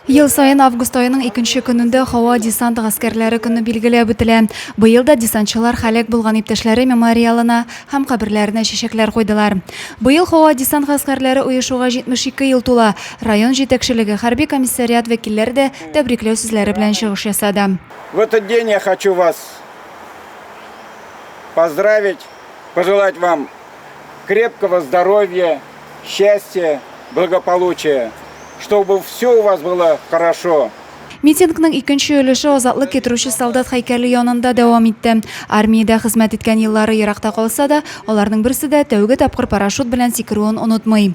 Ел саен август аеның икенче көнендә һава десант гаскәрләре көне билгеләп үтелә. Быел да десантчылар халәк булган иптәшләре мемориалына һәм каберләренә чәчәкләр куйдылар. Быел һава десант гаскәрләре оешуга 72 ел тула. Район җитәкчелеге, хәрби комиссариат вәкилләре дә тәбрикләү сүзләре белән чыгыш ясады. В этот день я хочу вас поздравить, пожелать вам крепкого здоровья, счастья, благополучия, чтобы все у вас было хорошо. Митингның икенче өлеше азатлык китерүче солдат һәйкәле янында дәвам итте. Армиядә хезмәт иткән еллары еракта калса да, аларның берсе дә тәүге тапкыр парашют белән сикерүен онытмый.